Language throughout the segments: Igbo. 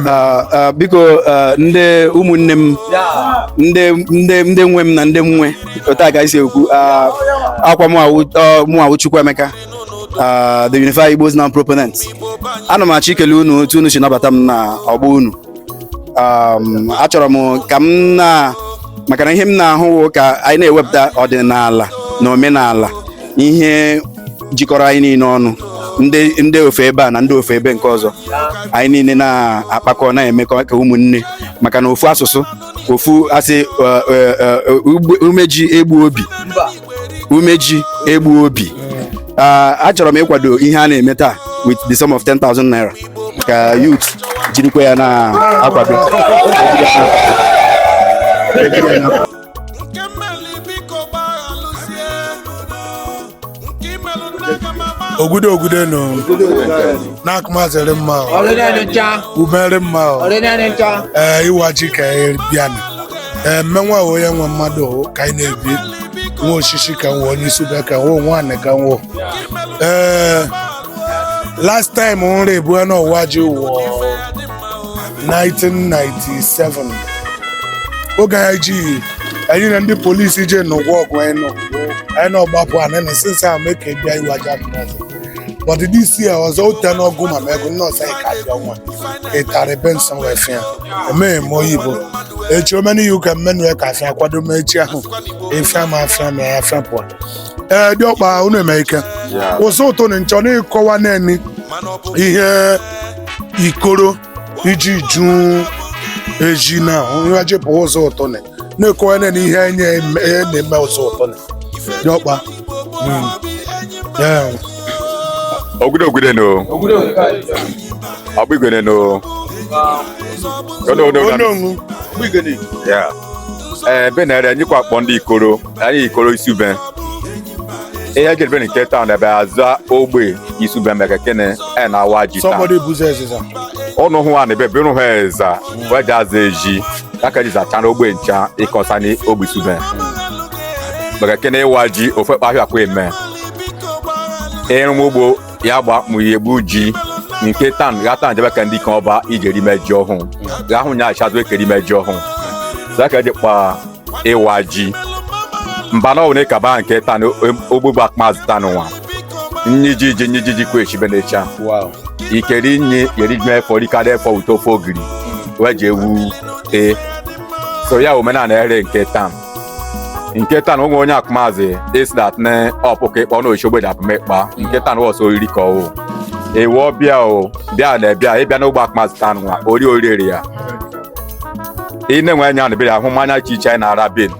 Ah, ah, biko ah, ndị ụmụnne m ndị nwe m na ndị m nwe otu a ka anyị si ekwu akwa mụwa wụ Chukwuemeka the Unified Igbos Now proponent ana m achọ ikele unu otu unu si nabata m na ọgbọ unu achọrọ m ka m na maka na ihe m na-ahụ ka anyị na-ewepụta ọdịnala na omenala ihe jikọrọ anyị niile ọnụ ndị ndị ofe ebe a na ndị ofe ebe nke ọzọ anyị niile na-akpakọ na-emekọ ka ụmụnne maka na ofu asụsụ ofu asị eh, eh, eh, ugbe- umeji egbu obi umeji egbu obi Ah, achọrọ m ịkwado ihe a na-eme taa with the sum of 10,000 naira ka youth jirikwa ya na-akwado nke mmeli biko gbaghalụzie nke imelụ nna aga m agba ogudo ogudo nọ n'akụmazịrị mma o, ọrịnanị ncha umere mma o. ọrịnanị ncha ee ịwa ji ka anyị bịanụ ee mmenwa wụ onye nwe mmadụ o, ka anyị na-ebi nwa osisi ka nwe onye Isube ka nwe nwaanyị ka nwe ee last time nri ebue n'ịwa ji wụ 1997 oge anyị ji anyị na ndị polisi je n'ụgwọ ọgụ anyị nọ anyị na ọgbapụ anyị na since ahụ mee ka a bịa ịwa ji ndị ọzọ but this year ọzọ ụta n'ọgụ ma ma ego nọọsụ anyị ka abịa nwa ịtarị Benson wee fịa emeghị m oyibo echi omena iwu ka mmenu ya ka afịa kwado m echi ahụ ịfịa ma afịa ma ya afịa pụọ ee diọkpa unu eme ike ụzọ ụtụ na nchọ na-ekọwa naanị ihe ikoro iji ju eji na nwa jepụ ụzọ ụtụ na na-ekọwa naanị ihe enye eme- e na-eme ụzọ ụtụ na diọkpa Mm. Ee. Ogide ogide no. Ọgbigwene no. Ono ono. Ononwu. Yeah. ee be na-ere anyị kwa akpọ ndị ikoro anyị ikoro Isube ihe jedebe nke taa na ebe aza Ogbe Isube meke kịnị e na-awa ji taa somebody buzi eziza ọnụ hụ a na ebe bụrụ ha eza wee ji aza ezi aka ji zacha na ogbe ncha ịkọsa na Ogbe Isube maka kịnị ịwa ji ofe kpahịa akwa eme ịrụ m ugbo ya gba mụ ihe gbu ji nke tan ga tan jebe ka ndị kan ọba i je rime ji ọhụụ ga ahụ nya achadụ e ke rime ji ọhụụ zaka diọkpa ịwa ji mba na ọwụ na ịkaba nke tan ogbugba akpazụ tan nwa nyi ji ji nyi ji ji kwe echibe na-echa wow ikeri nyi yeri jime efọ rikada efọ uto ofe ogiri wee ji ewu tee so ya omenala ere nke tan nke tan onwe onye akụmazị is that na ọpụka ịkpọ na isi ogbe dị akụmekpa nke tan wụ sọ oriri ka ọ wụ ewu ọbịa o bịa na bịa ịbịa n'ogbe akụmazị tan nwa ori oriri ya ị na-enwe anya na bịa ahụ mmanya iche iche anyị na-ara ebe ni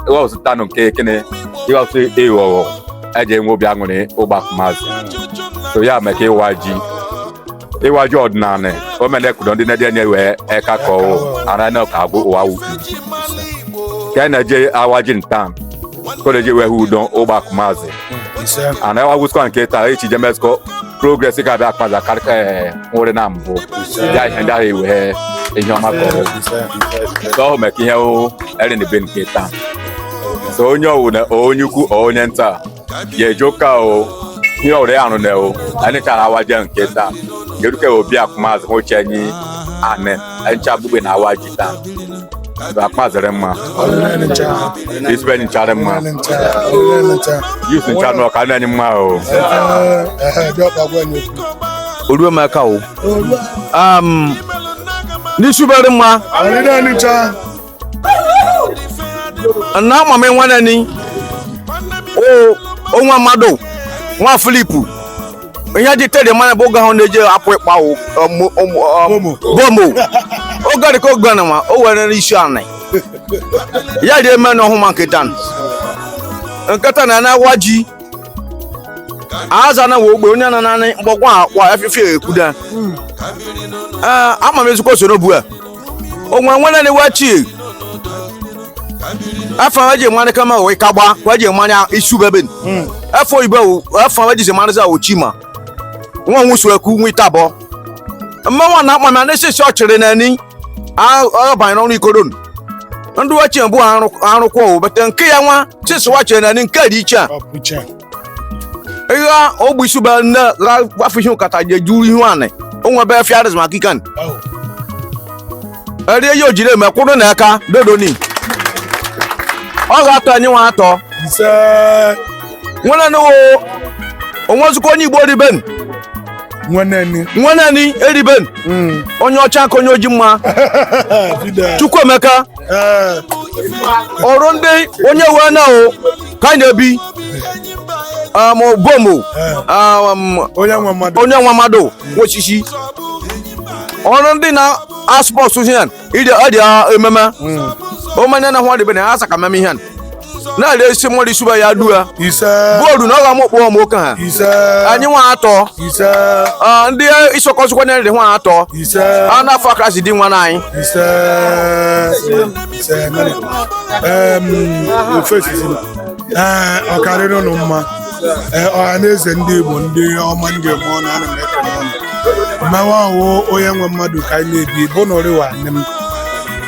ịghọsụ tanụ nke ekene ịghọsụ ịghọghọ eji enwe obi aṅụrị ogbe akụmazị so ya meka ịwa ji ịwa ji ọdịnala omenekudo ndị na-eje nye wee eka ka ọ wụ ara na ka agwụ ụwa wu ka na-eje awa ji ntan koleji wee hụ udo n'ogbe akụmazị a na-awagwụsikwa nke taa echi je mezikọ progress ka abịa akpaza karịka nwere na mbụ ya ihe ndị ahụ ewee ihe ọma ka ọ wụ so ọhụ meka ihe erin be nke taa so onye ọwụna onye ukwu onye nta ye joka o ihe ọrịa ahụ na o anyị chara awa ji nke taa keduke obi akụmazị m ochie anyị anị anyị cha gbugbe na-awa ji taa akpazịrị mma isube nchara mma youth ncha na ọka na-enye mma o oruemeka o n'isubere mma na ama m nwanne ni o nwa mmadụ nwa Philip ihe dị tedị mmanụ bụ oge ahụ na-eji apụ ịkpa o- ọmụ- ọmụ- ọmụ- bomo oge dị ka oge na ma o were n'isi anị ya dị eme na ọhụma nke tan nke tan a na-awa ji aza na ogbe onye na nanị mgbọkwa akwa efife ekwuda ama m ezikwa osoro bu a onwe nwere ni wachi afa wa ji mara kama wụ ikagba wa ji mara isube ebe ni afa oyibo afa wa ji se mara za ochi ma nwa nwusu eku nwa itabọ mmanwa na akpa na n'esisi ọchịrị na ni ọ banyere ọrụ ikoro nụ ndị wachi bụ arụkwọ obete nke ya nwa sisi wachi na ni nke dị iche a ihe ogbe isube nne afọ ihe nkata ji ejuru ihu anị o nwebe fiaris maka ikan eri ihe o jiri eme kwụrụ na aka dodo ni ọ ga-atọ anyị nwa atọ ise nwere nụwo onwezikwa onye igbo rị ebe ni nweneni nwenani eriben onye ọcha ka onye oji mma fide chukwuemeka ọrụ ndị onye wee na o ka anyị na-ebi um, bomo um, onye nwe mmadụ onye nwa mmadụ nwa sisi ọrụ ndị na aspọs ihe ide ọ dị ememe omenya na hwa dịbe na ha saka meme ihe na-arịa isi mmadụ isuba ya dua ise bọọlụ na ọ ga-ama okpọ ọma oke ha ise anyị nwa atọ ise Ah, ndị isokọsịkwa na nri nwa atọ ise a na-afọ aka si di nwa na anyị ise ise mere em ofesi si ee ọ ka-arịrị ụnụ mma ee ọha na eze ndị igbo ndị ọma m ga-eme ọnụ ana m ekele ụnụ mmewe ahụ onye nwe mmadụ ka anyị na-ebi bụ na ụrịwa nne m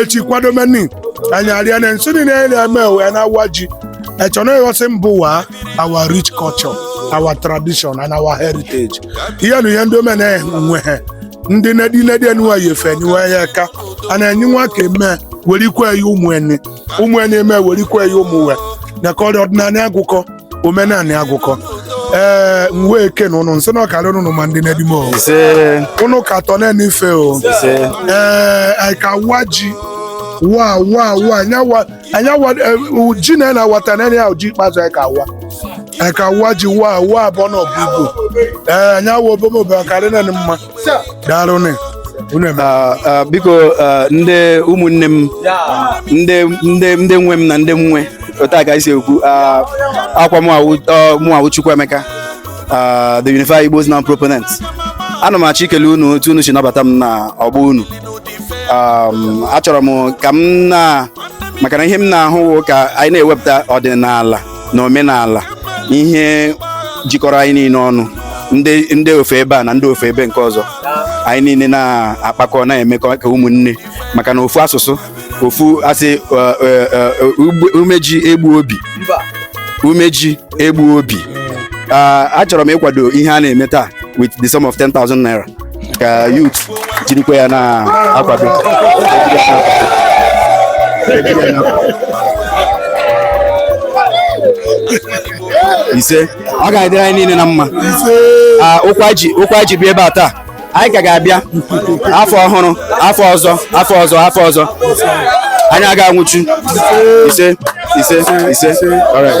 echi kwado meni anyị arịa na nso niile anyị na-eme wee na-awa ji echọ na ighosi mba ụwa our rich culture our tradition and our heritage ihe na ihe ndị omena nwe ha ndị nedi nedi enuwa ya efe enuwa ya aka a na enyi nwa ka eme werikwa ya ụmụ enyi ụmụ enyi eme werikwa ya ụmụ we na ka ọrịa ọdịnala agụkọ omenanị agụkọ ee m wee kene ụnụ m sị na ọ ka-arị ụnụ mma ndị nedi m o ise ụnụ ka atọ na-ene ife o ise ee anyị ka-awa ji wa wa wa anya wa anya wa eh, u- ji na na-awa taa na ya ji ikpeazụ anyị ka-awa anyị ka-awa ji wa wa abụọ na ọbụ igbo ee anya wa obomobe ọ ka-arị na mma daalụnụ ah, ah, biko ah, ndị ụmụnne m ndị nwe m na ndị m nwe otu a ka anyị si ekwu ọkwa mụwa wụ Chukwuemeka the Unify Igbos Now proponent ana m achọ ikele unu otu unu si nabata m n'ọgbọ unu um, achọrọ m ka m na maka na ihe m na-ahụ ka anyị na-ewepụta ọdịnala na omenala ihe jikọrọ anyị niile ọnụ ndị ofe ebe a na ndị ofe ebe nke ọzọ anyị niile na-akpakọ na-emekọ ka ụmụnne maka na ofu asụsụ ofu asị uh, uh, uh, umeji egbu obi umeji egbu obi achọrọ m ịkwado ihe a na-eme taa with the sum of 10,000 naira ka youth jirikwa ya na-akwado ise ọ ga-adịrị anyị niile na mma Ah, ụkwụ e ji ụkwụ e ji bịa ebe a taa anyị ka ga-abịa afọ ọhụrụ afọ ọzọ afọ ọzọ afọ ọzọ anyị aga anwụchu ise ise ise alright.